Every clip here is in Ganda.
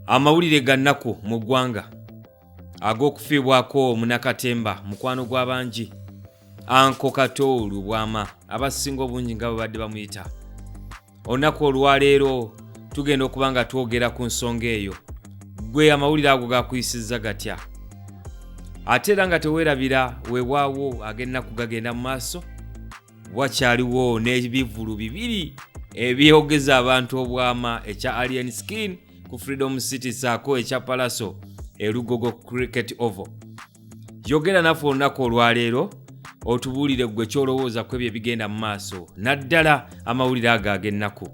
Amawulire ga nnaku mu ggwanga ag'okufiibwako munakatemba mukwano gw'abangi Anko Kato Lubwama abasinga obungi nga babadde bamuyita. Olunaku olwaleero tugenda okuba nga twogera ku nsonga eyo. Ggwe amawulire ago gakuyisizza gatya? Ate era nga teweerabira weewaawo ag'ennaku gagenda mu maaso. wakyaliwo n'ebivulu bibiri ebyogeza abantu obwama ekya alien skin ku freedom city saako ekya palaso elugogo cricket ovo yogera naffe olunaku olwaleero otubuulire ggwe kyolowooza ku ebyo ebigenda mu maaso naddala amawulire ago ag'ennaku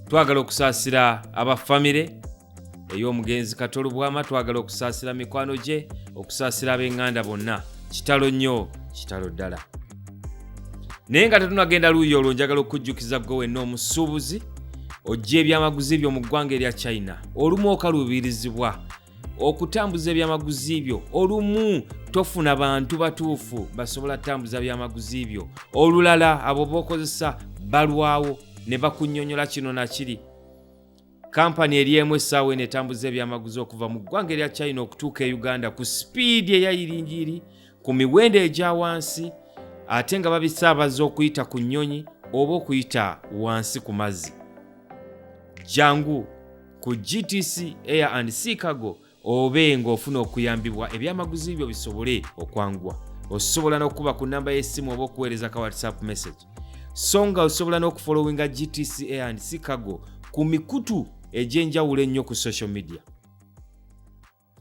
twagala okusaasira aba famire ey'omugenzi kato lubwama twagala okusaasira mikwano gye okusaasira ab'eŋŋanda bonna kitalo nnyo kitalo ddala naye nga tetunagenda luuyi olwo njagala okujjukiza gwe wenna omusuubuzi ojja ebyamaguzi byo mu ggwanga erya china olumu okaluubirizibwa okutambuza ebyamaguzi byo olumu tofuna bantu batuufu basobola tambuza byamaguzi byo olulala abo bokozesa balwawo ne bakunyonyola kino nakiri Kampani eri emu essaawa eno etambuza ebyamaguzi okuva mu ggwanga erya China okutuuka e Uganda ku sipiidi eya yiringiri ku miwendo egya wansi ate nga babisaabaza okuyita ku nnyonyi oba okuyita wansi ku mazzi. Jangu ku GTC Air and Sea Cargo obe ng'ofuna okuyambibwa ebyamaguzi byo bisobole okwanguwa osobola n'okukuba ku nnamba y'essimu oba okuweereza ka whatsapp message so nga osobola n'okufolowinga gtca and chicago ku mikutu egy'enjawulo ennyo ku social media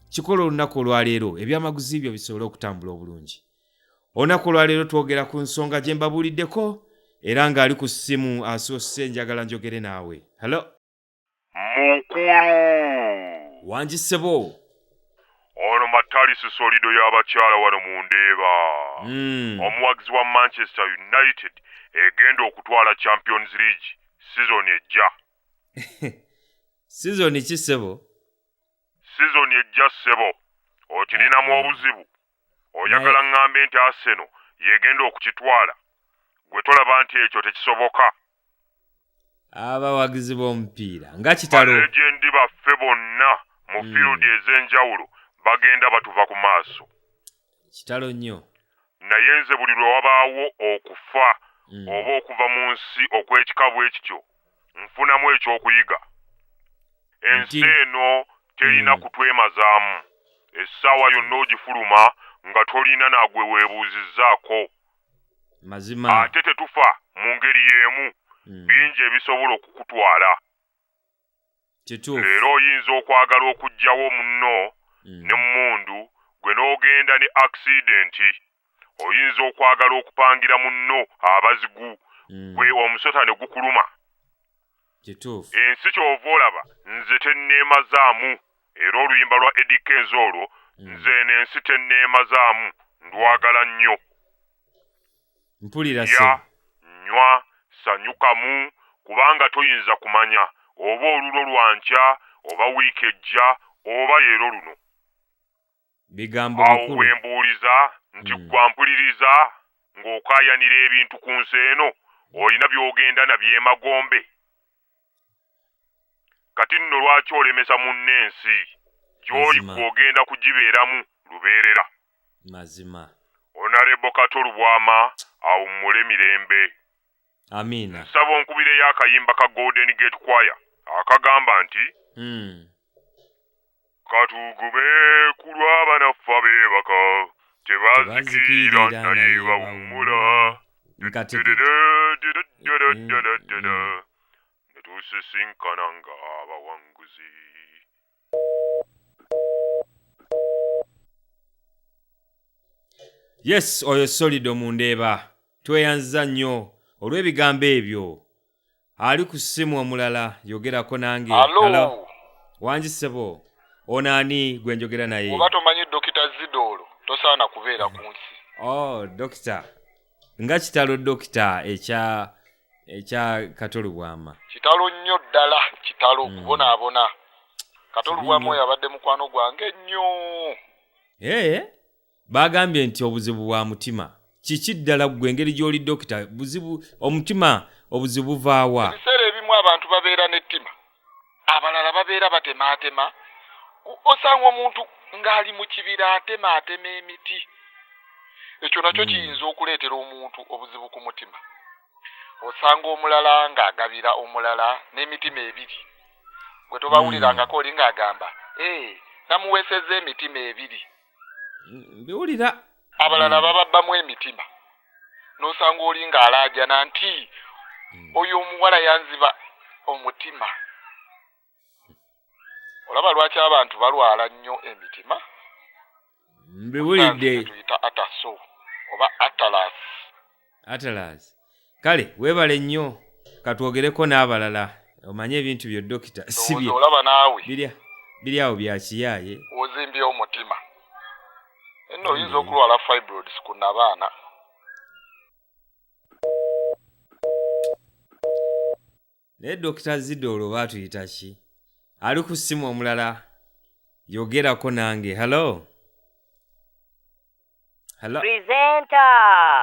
kikola olunaku olwaleero ebyamaguzi byo bisobole okutambula obulungi olunaku olwaleero twogera ku nsonga gye mbabuuliddeko era ng'ali ku ssimu asoose njagala njogere naawe hallo Mukulu. Wangi ssebo. Ono Matalisi Solido y'abakyala wano mu Ndeeba. Mm. Omuwagizi wa Manchester United egenda okutwala Champions League sizoni ejja. sizoni ki ssebo? Sizoni ejja ssebo. Okirinamu obuzibu. oyagala ŋŋambe nti Arsenal y'egenda okukitwala? Ggwe tolaba nti ekyo tekisoboka? Abawagizi b'omupiira nga kitalo. Balegendi baffe bonna mu hmm. fiirudi ez'enjawulo bagenda batuva ku maaso. Kitalo nnyo. Naye nze buli lwe wabaawo okufa hmm. oba okuva mu nsi okw'ekika bwe kityo, nfunamu ekyokuyiga ensi eno terina mm. kutwemazaamu essaawa yonna ogifuluma nga tolina nagwe weebuuzizzaako mazima ate tetufa mu ngeri y'emu mm. bingi ebisobola okukutwala leero oyinza okwagala okuggyawo munno mm. ne mmundu gwe n'ogenda ne akisidenti oyinza okwagala okupangira munno abazigu mm. gwe omusota ne gukuluma kituufu ensi kyova olaba nze tenneemazaamu era oluyimba lwa edi kenzi olwo mm. nze eno ensi tenneemazaamu ndwagala nnyo mpulira lya nywa sanyukamu kubanga toyinza kumanya oba olulo lwa nkya oba wiiki ejja oba leero luno awo we mbuuliza nti hmm. ggwa mpuliriza ng'okaayanira ebintu ku nsi eno olina by'ogenda na by'emagombe kati nno lwaki olemesa munno ensi gyoli Mazima. gwogenda kugibeeramu lubeerera mazima onarebo kato lubwama awummule mirembe amiina nsaba onkubireyo akayimba ka golden gate choir akagamba nti mm. katugume ku lw'abanaffe abeebaka tebazikiira naye bawummula netusisinkana nga abawanguzi yes oyo solido mundeeba tweyanziza nnyo olw'ebigambo ebyo ali ku ssimu omulala yogerako nange Hello. Hello. wangi ssebo ono ani gwe njogera naye oba tomanyi dokita zidoolo tosaana kubeera ku nsi oh dokita nga kitalo dokita ekya ekya katolubwama kitalo nnyo ddala kitalo Mm. kubonaabona katolubwamu Kibi nnyo. oyo abadde mukwano gwange nnyo ee baagambye nti obuzibu bwa mutima kiki ddala ggwe engeri gy'oli dokita buzibu omutima obuzibu buvaawa ebiseera ebimu abantu babeera n'ettima abalala babeera batemaatema osanga omuntu ng'ali mu kibira atemaatema emiti ekyo nakyo hmm. kiyinza okuleetera omuntu obuzibu ku mutima osanga omulala ng'agabira omulala n'emitima ebiri gwe tobawulirangako hmm. oli ng'agamba ee eh, namuweesezza emitima ebiri mbiwulira abalala mm. bababbamu emitima n'osanga oli ng'alaajana nti mm. oyo omuwala yanziba omutima olaba lwaki abantu balwala nnyo emitima mbiwulidde tuyita ataso oba atalasi atalazi kale webale nnyo katwogereko n'abalala omanye ebintu byo dokita sibye olaba naawe birya biri awo byakiyaaye ozimbye omutima eno oyinza okulwala fibroids ku nabaana naye dokita zida olwo batuyita ki ali ku simu omulala yogerako nange hello hello Presenter!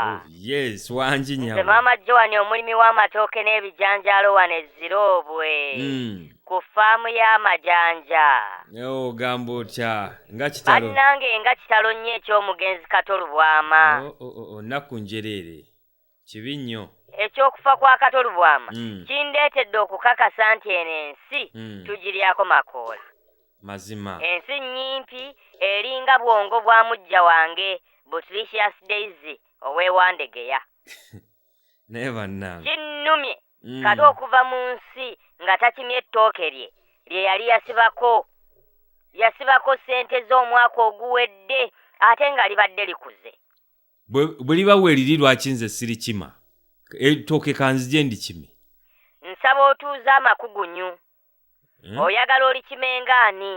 oh, yes wangi Nze nyabo maama Joan omulimi w'amatooke n'ebijanjaalo wano e Ziroobwe Mm. ku ffaamu y'amajanja. Ewo ogamba otya nga kitalo Bannange nga kitalo nnyo eky'omugenzi Kato Lubwama. Oh, oh, oh, oh, nnaku njereere kibi nnyo ekyokufa kwa kato lubwama mm. kindeetedde okukakasa nti eno ensi mm. tugiryako makoola mazima ensi nnyimpi eringa bwongo bwa mujja wange butricious daisy owewandegeya naye bannange kinnumye mm. kati okuva mu nsi nga takimye ettooke lye lye yali yasibako yasibako ssente z'omwaka oguwedde ate nga libadde likuze bwe liba weeriri lwaki nze sirikima etooke kanzije ndikime nsaba otuuza amakugunyu hmm? oyagala olikimenga ani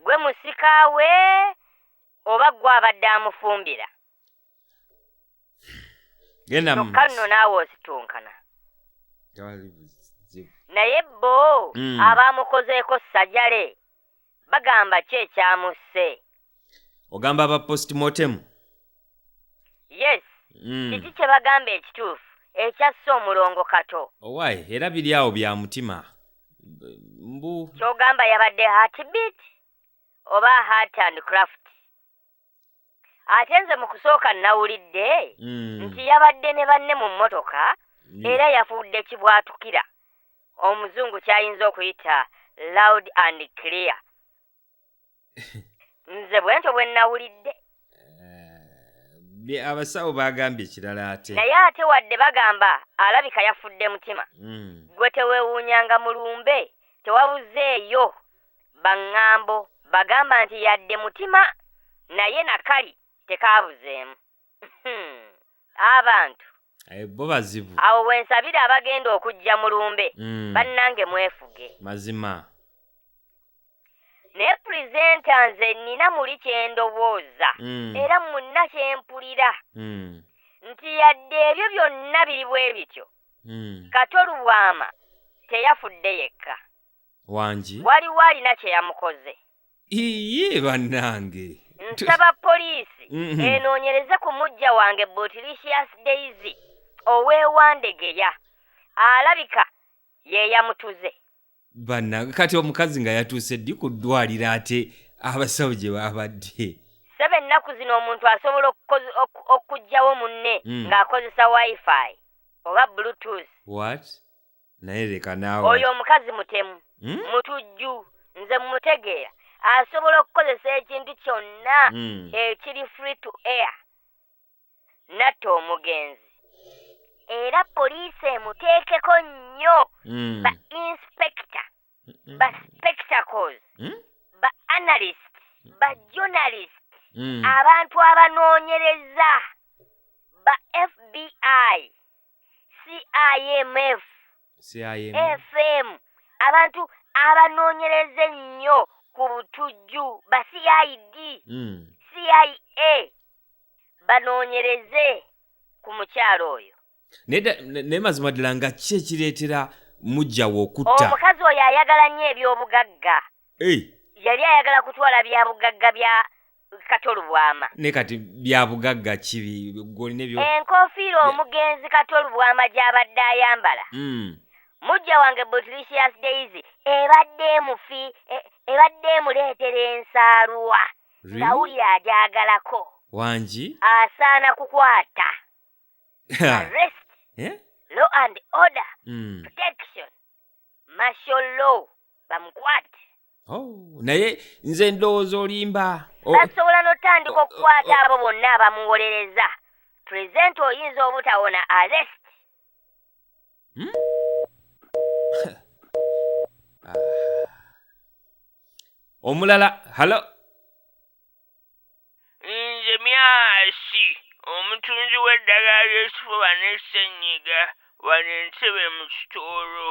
gwe musika we oba gwe abadde amufumbira kyokka nno naawe ositunkana naye bo hmm. abaamukozeeko sajale Bagamba ki ekyamusse? Ogamba aba post mortem? Yes. Mm. Kiki kye bagamba ekituufu ekyasse omulongo Kato? Owaye oh, era biri awo bya mutima. Mbu. Kyogamba yabadde heartbeat oba heart and craft? ate nze mu kusooka nnawulidde mm. nti yabadde ne banne mu mmotoka era yafuudde kibwatukira omuzungu ky'ayinza okuyita loud and clear nze bwentyo bwe nnawulidde eh, abasawo baagambye ekirala ate naye ate wadde bagamba alabika yafudde mutima mm. gwe tewewuunyanga mulumbe tewabuzeeyo Bangambo bagamba nti yadde mutima naye nakali tekaabuzeemu. Hhmm abantu! Eeh bo bazibu. Awo wensabira abagenda okujja mu lumbe bannange mwefuge. Mazima. Naye presenter nze nina muli kyendowooza era munna kyempulira nti yadde ebyo byonna biri bwebityo Kato Lubwama teyafudde yekka. wangi waliwo alina kye yamukoze iye bannange nsaba poliisi mhm. enoonyereze ku mujja wange botilicious daisy oweewandegeya alabika yeeyamutuze bannange kati omukazi nga yatuuse ddi ku ddwaliro ate abasawo gye baabadde saba ennaku zino omuntu asobola okugyawo munne mm. ng'akozesa wifi oba bluetooth what naye leka naawe oyo omukazi mutemu hmm? mutujju nze mumutegeera asobola okukozesa ekintu kyonna hmm. ekiri free to air natta omugenzi era poliisi emuteekeko nnyo hmm. ba inspector ba spectacles ba analyst ba journalist abantu abanoonyereza ba fbi CIMF, CIM. FM, abantu abanoonyereza ennyo ku butujju ba CID, Mm. CIA banoonyereze ku mukyala oyo. Naye da- ne- naye mazima ddala nga ki ekireetera mujjawo okutta Omukazi oyo ayagala nnyo eby'obugagga. Eh, Yali ayagala kutwala bya bugagga bya kato lubwama ne kati bya bugagga kibi gwolina ebyo enkofiira omugenzi kato lubwama gy'abadde ayambala mm. mujja wange butlicious daisy ebadde emufi e, ebadde emuleetera ensaalwa ngawulira agyagalako wangi asaana kukwata arrest Eh? law and order Mm. protection martial law bamukwate Oh, naye nze ndowooza olimba O- basobola n'otandika okukwata abo bonna abamuwolereza pulezidenti oyinza obutawona arrest omulala halo nze myasi omutunzi w'eddagala ly'ekifuba n'essennyiga wano entebe mu kitoolo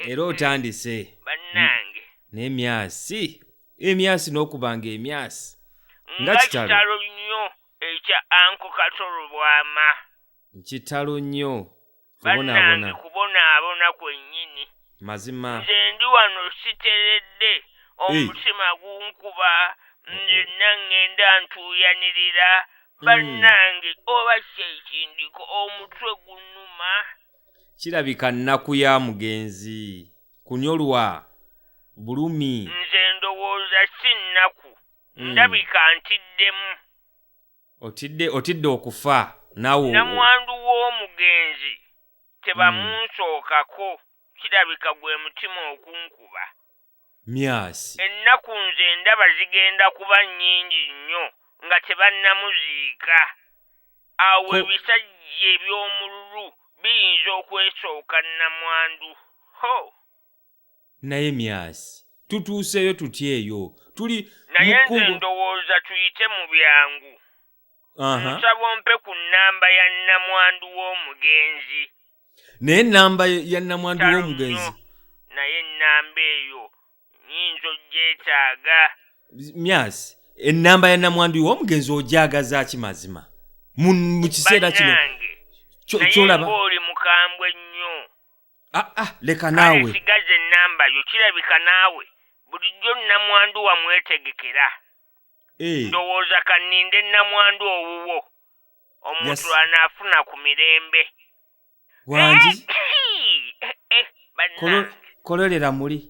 era otandise bannange naye myasi emyasi n'okubanga emyasi nga kitalo nnyo ekya anko katolobwama kitalo nnyo bannange kubonaabona kwennyini mazima nze ndi wano siteredde omutima gunkuba nyenna ŋŋenda ntuuyanirira hmm. bannange oba kyekindiko omutwe gunnuma kirabika nnaku ya mugenzi kunyolwa bulumi nze ndowooza si nnaku hmm. ndabika ntiddemu otidde otidde okufa nawe namwandu w'omugenzi tebamunsookako kirabika gwe mutima okunkuba myasi ennaku nze ndaba zigenda kuba nnyingi nnyo nga tebannamuziika awo Ko- ebisajja eby'omululu biyinza okwesooka nnamwandu ho naye myasi tutuuseeyo tutya eyo tuli naye nze ndowooza tuyite mu byangu nsaba ompe ku nnamba ya nnamwandu w'omugenzi naye ennamba ya nnamwandu w'omugenzi naye ennamba eyo nyinza ogyetaaga myasi ennamba ya nnamwandu w'omugenzi ogyagaza ki mazima mu kiseera kino kyolaba oli mukambwe nnyo ah, ah, leka naawe sigaza ennamba yo kirabika naawe bulijjo nnamwandu wamwetegekera eh. ndowooza kanninde nnamwandu owuwo omuntu anaafuna ku mirembe wangi eh, eh, kololera muli